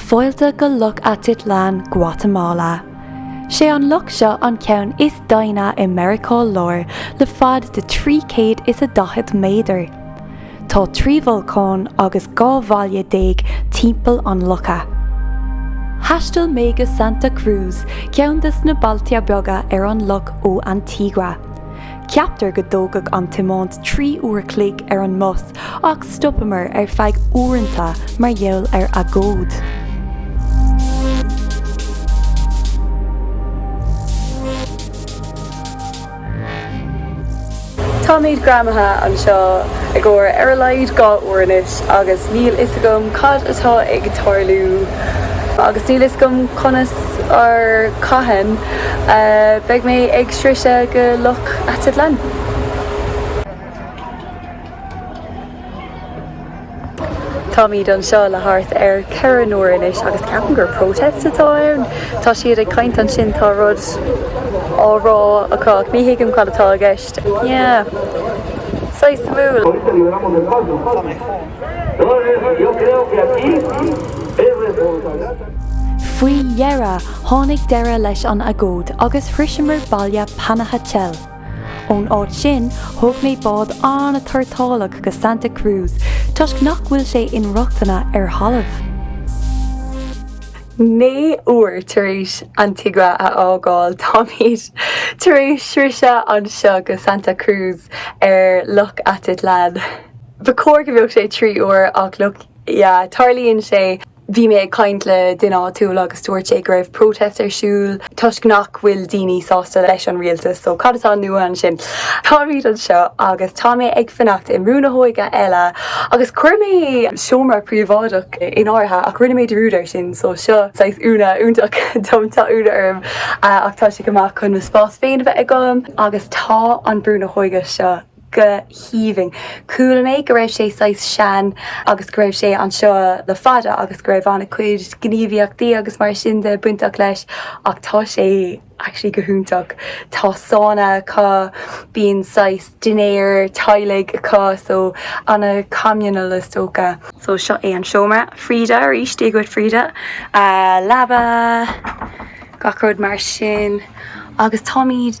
Fáilte go Loch Atitlán, Guatamala. Sé an loch seo an ceann is doimhne i Meiriceá Láir le fad de trí céad is a daichead méadar. Tá trí bholcán agus dhá bhaile déag timpeall an locha. Thaistil mé go Santa Cruz, ceann des na bailte beaga ar an loch ó Antigua. Ceaptar go dtógfadh an tiomáint trí uair chloig ar an mbus ach stopamar ar feadh uaireannta mar gheall ar agóid. Táimíd greamaithe anseo i gcomhair ar a laghad dhá uair anois agus níl fhios agam cad atá ag tarlú agus níl fhios agam conas or cathain a bheidh mé ag sroiseadh go Loch Atitlán. Táimíd anseo le thart ar ceithre n-uair anois agus ceapaim gur protest atá ann. Tá siad ag caint ansin, tá rud á rá acu ach ní thuigim cad atá i gceist. Yeah. Saghas suimiúil. Faoi dheireadh tháinig deireadh leis an agóid agus shroiseamar baile Panajachel. Ón áit sin, thóg mé bád an-tuairteálach go Santa Cruz, toisc nach bhfuil sé inrochtana ar thalamh. Naoi uair tar éis Antigua a fhágáil, táimid tar éis sroiseadh anseo go Santa Cruz ar Loch Atitlán. Ba chóir go mbeadh sé trí uair, ach look, yeah, tarlaíonn sé. Bhí mé ag caint le duine áitiúil agus dúirt sé go raibh protest ar siúl toisc nach bhfuil daoine sásta leis an rialtas, so cad atá nua ansin? Táimid anseo agus tá mé ag fanacht i mbrú na hóige eile agus chuir mé seomra príobháideach in áirithe ach rinne mé dearúd air sin so seo saghas ionadh iontach dom, tá ionadh orm ach tá sé go maith chun mo spás féin a bheith agam agus tá an brú na hóige seo. go haoibhinn. Chuala mé go raibh sé saghas sean agus go raibh sé anseo le fada agus go raibh ana chuid gníomhaíochtaí agus mar sin de bainteach leis ach tá sé actually go hiontach. Tá sána acu, bíonn saghas dinnéar teaghlaigh acu so ana communal is dócha. So seo é an seomra. Frida arís, Dia dhuit Frida. Leaba, gach rud mar sin agus táimid.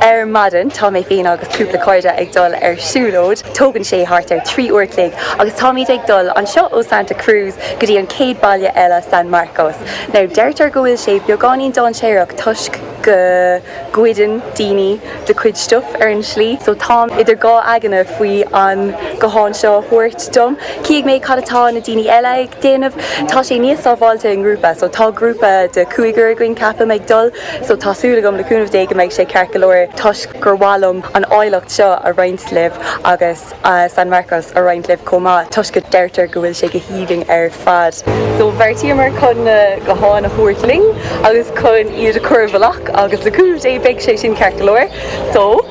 Ar maidin tá mé féin agus cúpla cairde ag dul ar siúlóid. Tógann sé thart ar trí uair chloig agus táimíd ag dul anseo ó Santa Cruz go dtí an chéad baile eile, San Marcos. Now deirtear go bhfuil sé beagáinín dáinséarach toisc go goideann daoine do chuid stuff ar an slí. So táim idir dhá aigne faoi an guthán seo a thabhairt liom. Chífidh mé cad atá na daoine eile ag déanamh. Tá sé níos sábháilte i ngrúpa. So tá grúpa de cúigear againn ceapaim ag dul. So tá súil agam, le cúnamh Dé, go mbeidh sé ceart go leor toisc gur mhaith liom an áilleacht seo a roinnt libh agus San Marcos a roinnt libh chomh maith toisc go deirtear go bhfuil sé go haoibhinn ar fad. So bheartaíomar chun na gutháin a thabhairt linn agus chun iad a chur i bhfolach agus le cúnamh Dé beidh sé sin ceart go leor. So.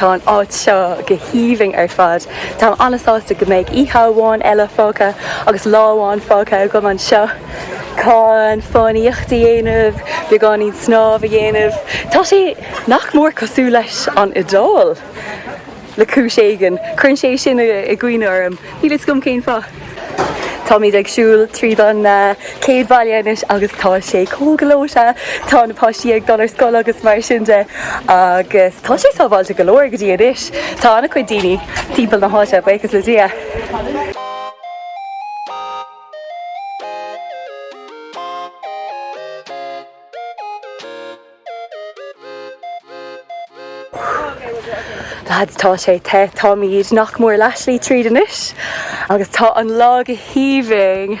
Tá an áit seo go haoibhinn ar fad. Táim an-sásta go mbeidh oíche amháin eile fágtha agus lá amháin fágtha agam anseo chun fánaíocht a dhéanamh, beagáinín snámh a dhéanamh. Tá sé nach mór cosúil leis an Iodáil! le cúis éigin. Cuireann sé sin i gcuimhne orm, níl fhios agam cén fáth. Táimíd ag siúl tríd an chéad bhaile anois agus tá sé chomh gleoite. Tá na páistí ag dul ar scoil agus mar sin de agus tá sé sábháilte go leor go dtí anois. Tá an-chuid daoine timpeall na háite, buíochas le Dia. Lads, tá sé te, táimíd nach mór leath-slí tríd anois agus tá an lá go haoibhinn!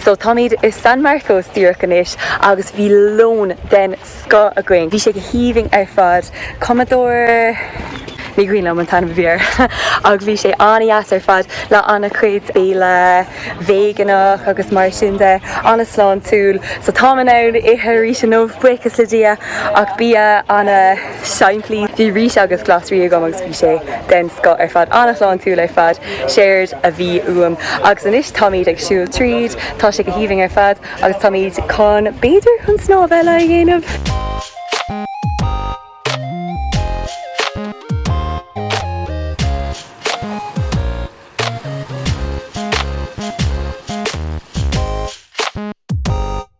So táimíd i San Marcos díreach anois agus bhí lón den scoth againn. Bhí sé go haoibhinn ar fad. Comedor, ní cuimhin liom an t-ainm a bhí air ach bhí sé an-deas ar fad le an-chuid béilí véigeanach agus mar sin de, an-sláintiúil. So táim in ann ithe arís inniu, buíochas le Dia, ach bia an. Simplí. Bhí rís agus glasraí agam agus bhí sé den scoth ar fad, an-shláintiúil ar fad. Séard a bhí uaim. Agus anois táimíd ag siúl tríd, tá sé go haoibhinn ar fad agus táimíd chun, b'fhéidir, chun snámh eile a dhéanamh.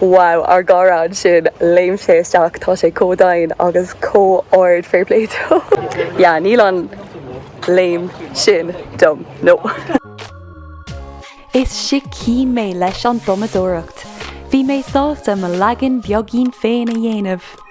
Wow, ár gcara ansin, léim sé isteach, tá sé chomh domhain agus chomh ard, fair play dó. Yeah, níl an léim sin dom, no. Is sicín mé leis an tumadóireacht. Bhí mé sásta mo leagan beaigín féin a dhéanamh.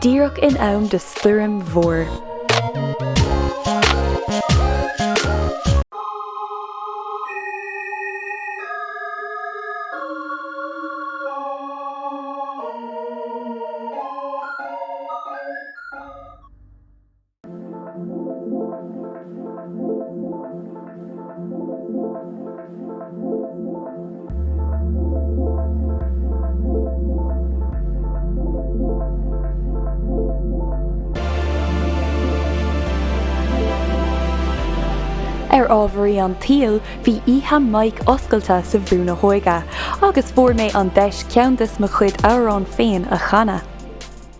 díreach in am do stoirm mhór. Ar ámharaí an tsaoil bhí oíche mic oscailte sa bhrú na hÓige agus fuair mé an deis ceann de mo chuid amhráin féin a chanadh.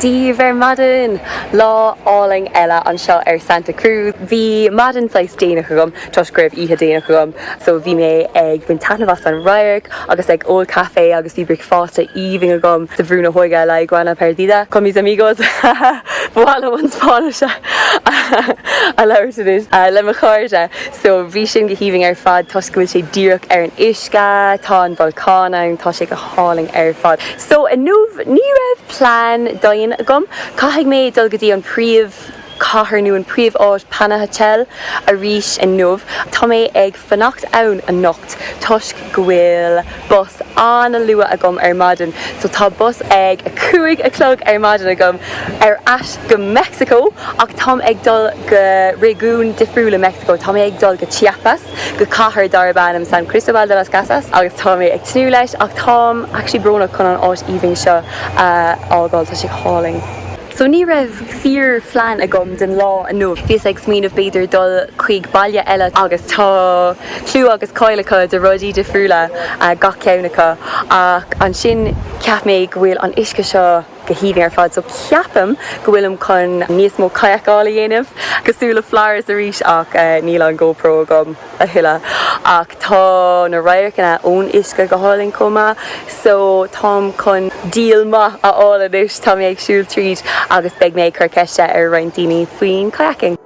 Dia daoibh ar maidin! Lá álainn eile anseo ar Santa Cruz. Bhí maidin saghas déanach agam. Toisc go raibh oíche déanach agam so bhí mé ag baint taitneamh as an radharc agus ag ól caife agus bhí bricfeáste aoibhinn agam sa bhrú na hÓige La Iguana Perdida con mis amigos ha ha ha ba mhaith liom an Spáinnis a labhairt anois le mo chairde so bhí sin go haoibhinn ar fad toisc go bhfuil sé díreach ar an uisce tá an bolcán ann tá sé go hálainn ar fad so inniu ní raibh plean daingean agam caithfidh mé dul go dtí an príomh cathair nó an príomh-áit Panajachel arís inniu. Tá mé ag fanacht ann anocht toisc go bhfuil bus an-luath agam ar maidin. So tá bus ag a cúig a chlog ar maidin agam ar ais go Meicsiceo ach táim ag dul go réigiún difriúil i Meicsiceo. Tá mé ag dul go Chiapas go cathair darb ainm San Cristobal de las Casas agus tá mé ag tnúth leis ach táim actually brónach chun an áit aoibhinn seo a fhágáil. Tá sé go hálainn. So ní raibh fíor phlean agam den lá inniu. Bhíos ag smaoineamh b'fhéidir dul chuig baile eile. Agus tá clú agus cáil acu do rudaí difriúla gach ceann acu. Ach ansin cheap mé go bhfuil an uisce seo go haoibhinn ar fad. So ceapaim go bhfuilim chun níos mó kayak-áil a dhéanamh. Cosúil le Flores arís ach níl an GoPro agam. a thuilleadh ach tá na radharcanna ón uisce go hálainn chomh maith so táim chun deal maith a fháil anois. Tá mé ag siúl tríd agus beidh mé ag cur ceiste ar roinnt daoine faoin kayaking.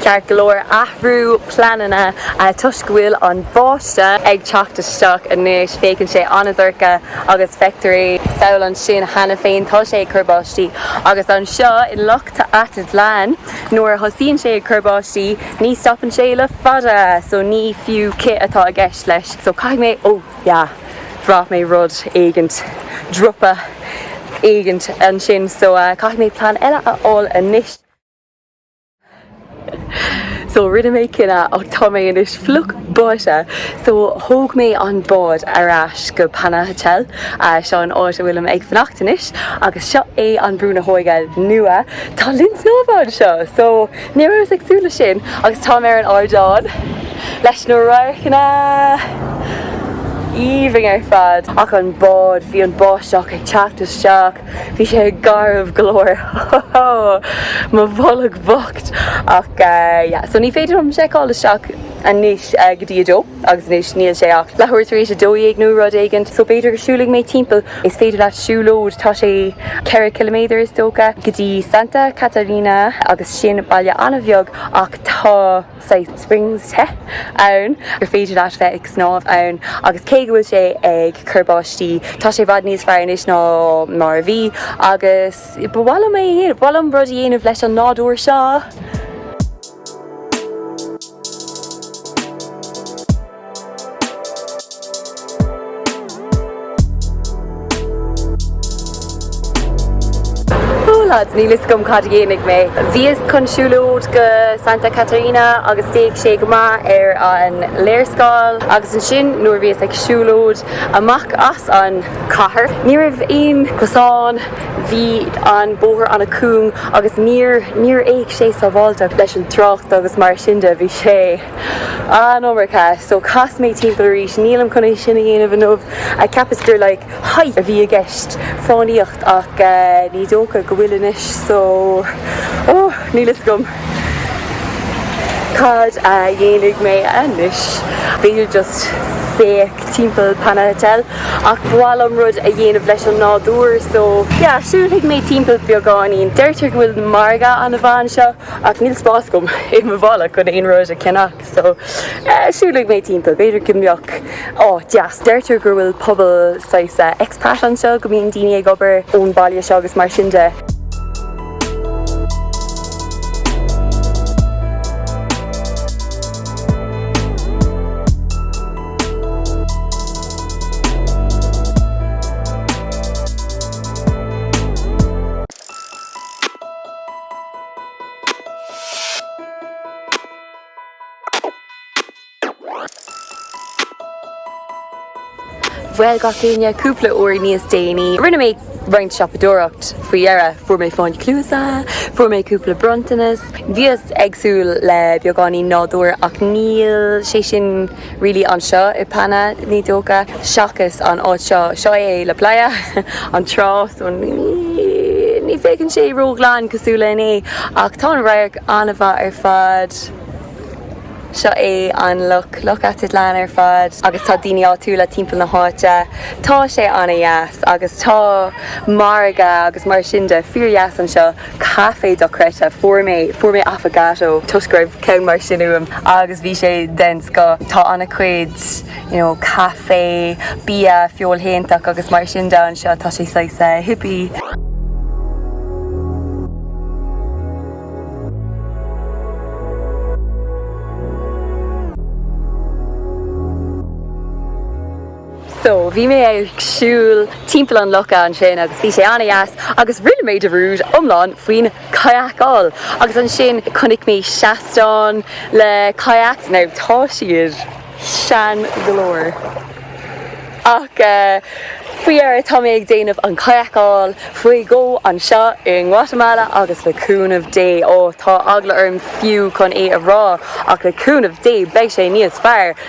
Ceart go leor, athrú pleananna toisc go bhfuil an báiste ag teacht isteach anois, féachann sé an-dorcha agus feictear i Samhail ansin cheana féin tá sé ag cur báistí agus anseo in Loch Atitlan nuair a thosaíonn sé ag cur báistí ní stopann sé le fada so ní fiú cith atá i gceist leis so caithfidh mé, ó yeah bhraith mé rud éigint, dropa éigint ansin so caithfidh mé plean eile a fháil anois. So rinne mé cinneadh ach tá mé anois fliuch báite so thóg mé an bád ar ais go Panajachel, seo an áit a bhfuilim ag fanacht anois agus seo é an brú na hóige nua. Tá linn snámha anseo so ní rabhas ag súil leis sin agus táim ar an ardán leis na radharcanna aoibhinn ar fad ach an bád, bhí an báisteach ag teacht isteach. Bhí sé garbh go leor. Mo bholg bhocht! Ach yeah, so ní féidir liom seiceáil isteach anois go dtí a dó agus anois níl sé ach leathuair tar éis a dó dhéag nó rud éigint so b'fhéidir go siúlfaidh mé timpeall. Is féidir leat siúlóid, tá sé ceithre ciliméadar is dócha, go dtí Santa Catarina agus sin baile an-bheag ach tá, saghas springs te ann gur féidir leat bheith ag snámh ann agus cé go bhfuil sé ag cur báistí tá sé i bhfad níos fearr anois ná mar a bhí agus ba mhaith liom é a dhéanamh, ba mhaith liom rud a dhéanamh leis an nádúr seo. Ó lads, níl fhios agam cad a dhéanfaidh mé. Bhíos chun siúlóid go Santa Catarina agus d'fhéach sé go maith ar an léarscáil agus ansin nuair a bhíos ag siúlóid amach as an cathair ní raibh aon cosán, bhí an bóthar ana cúng agus níor, níor fhéach sé sábháilteach leis an trácht agus mar sin de bhí sé. Ah no mar ceart. So cas mé timpeall arís, nílim chun é sin a dhéanamh inniu. Cheapas gur like hike a bhí i gceist, fánaíocht, ach eh ní dócha go bhfuil anois so oh níl fhios agam cad a dhéanfaidh mé anois. B'fhéidir just féachaint timpeall Panajachel ach ba mhaith liom rud a dhéanamh leis an nádúr so yeah siúlfaidh mé timpeall beagáinín. Deirtear go bhfuil na margadh ana mhaith anseo. Ach níl spás agam i mo mhála chun aon rud a cheannach so siúlfaidh mé timpeall, b'fhéidir go mbeadh áit deas. Deirtear go bhfuil pobal saghas expat anseo, go mbíonn daoine ag obair ón mbaile seo agus mar sin de. Bhuel, gach éinne, cúpla uair níos déanaí, rinne mé roinnt siopadóireacht faoi dheireadh, fuair mé fáinní cluasa, fuair mé cúpla bronntanas, bhíos ag súil le beagáinín nádúir ach níl sé sin. really anseo i bPanna, is dócha, seachas an áit seo, seo é La Playa, an trá, so ní, ní féachann sé ró-ghlan cosúil le inné, ach tá an radharc an-mhaith ar fad, seo é an loch, Loch Atitlán ar fad agus tá daoine áitiúla timpeall na háite, tá sé an-deas agus tá margadh agus mar sin de, fíor-dheas anseo. Café dochreidthe. Fuair mé, fuair mé affogato toisc go raibh ceann mar sin uaim agus bhí sé den scoth. Tá ana cuid you know café, bia feoilshéantach agus mar sin de anseo, tá sé saghas hippie. So, bhí mé ag siúl timpeall an locha ansin agus bhí sé an-deas agus rinne mé dearúd iomlán faoin kayakáil agus ansin chonaic mé seastán le kayaks, now tá siad sean go leor ach faoi dheireadh tá mé ag déanamh an kayakáil faoi dheireadh anseo i nGuatamala agus le cúnamh Dé, oh tá eagla orm fiú chun é a rá ach le cúnamh Dé beidh sé níos fearr.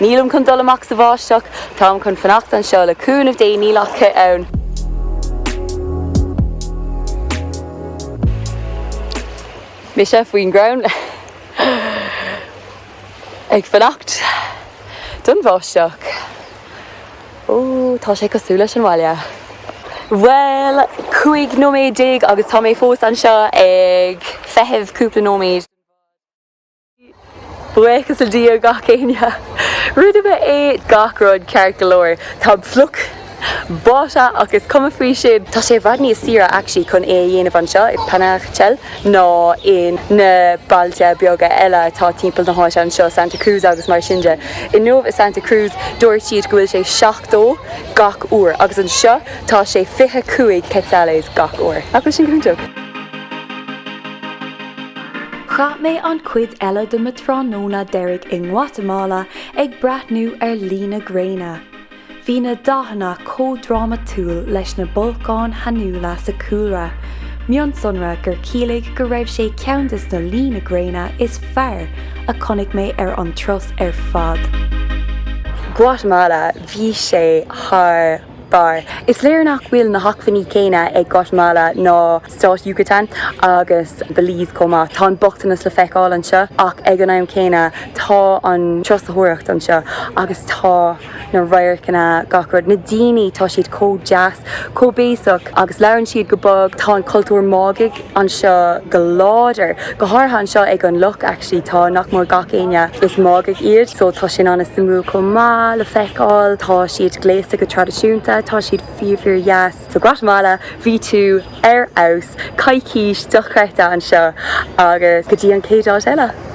Nílim chun dul amach sa bháisteach, táim chun fanacht anseo le cúnamh Dé níl ach cith ann. Mise faoin gcrann ag fanacht don bháisteach. Ó, tá sé cosúil leis an bhaile. Bhuel, cúig nóiméad déag agus tá mé fós anseo ag feitheamh cúpla nóiméad. Buíochas le Dia gach éinne. Rinne mé é gach rud ceart go leor. Táim fliuch báite ach is cuma faoi sin. Tá sé i bhfad níos saoire actually chun é a dhéanamh anseo i bPanajachel ná ins na bailte beaga eile atá timpeall na háite anseo, Santa Cruz agus mar sin de. Inniu i Santa Cruz dúirt siad go bhfuil sé 70 gach uair agus anseo tá sé 25 quetzales gach uair. Nach bhfuil sin go hiontach? Chaith mé an chuid eile de mo tráthnóna deiridh i nGuatamala ag breathnú ar luí na gréine. Bhí na dathanna chomh drámatúil leis na bolcáin shainiúla sa chúlra, mionsonra gur chiallaigh go raibh sé ceann de na luí na gréine is fearr a chonaic mé ar an turas ar fad. Guatamala, bhí sé thar. B'fhearr. Is léir nach bhfuil na hacmhainní céanna ag Guatemala ná Stát Yucatán agus Belize chomh maith. Tá an bochtanas le feiceáil anseo ach ag an am céanna tá an turasóireacht anseo agus tá na radharcanna, gach rud. Na daoine, tá siad chomh deas, chomh béasach agus labhrann siad go bog. Tá an cultúr Máigheach. anseo go láidir. Go háirithe anseo ag an loch actually tá nach mór gach éinne, is Máighigh iad so tá sin an-suimiúil chomh maith le feiceáil. Tá siad gléasta go traidisiúnta, tá siad fíor fíor dheas. So Guatemala bhí tú ar fheabhas, coicís dochreidte anseo agus go dtí an chéad áit eile!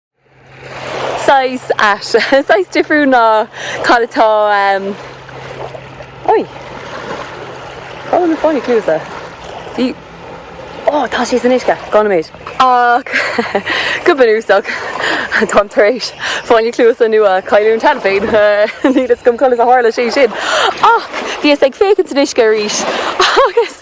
Saghas ait. Saghas difriúil ná cad atá ann. Oi! Cá bhfuil mo fáinne cluasa? Bhí. Ó, tá sí san uisce. Gá na méid. Ach go bunúsach, táim tar éis fáinne cluasa nua a chailliúint cheana féin. Níl fhios agam conas a tharla sé sin ach bhíos ag féachaint san uisce arís agus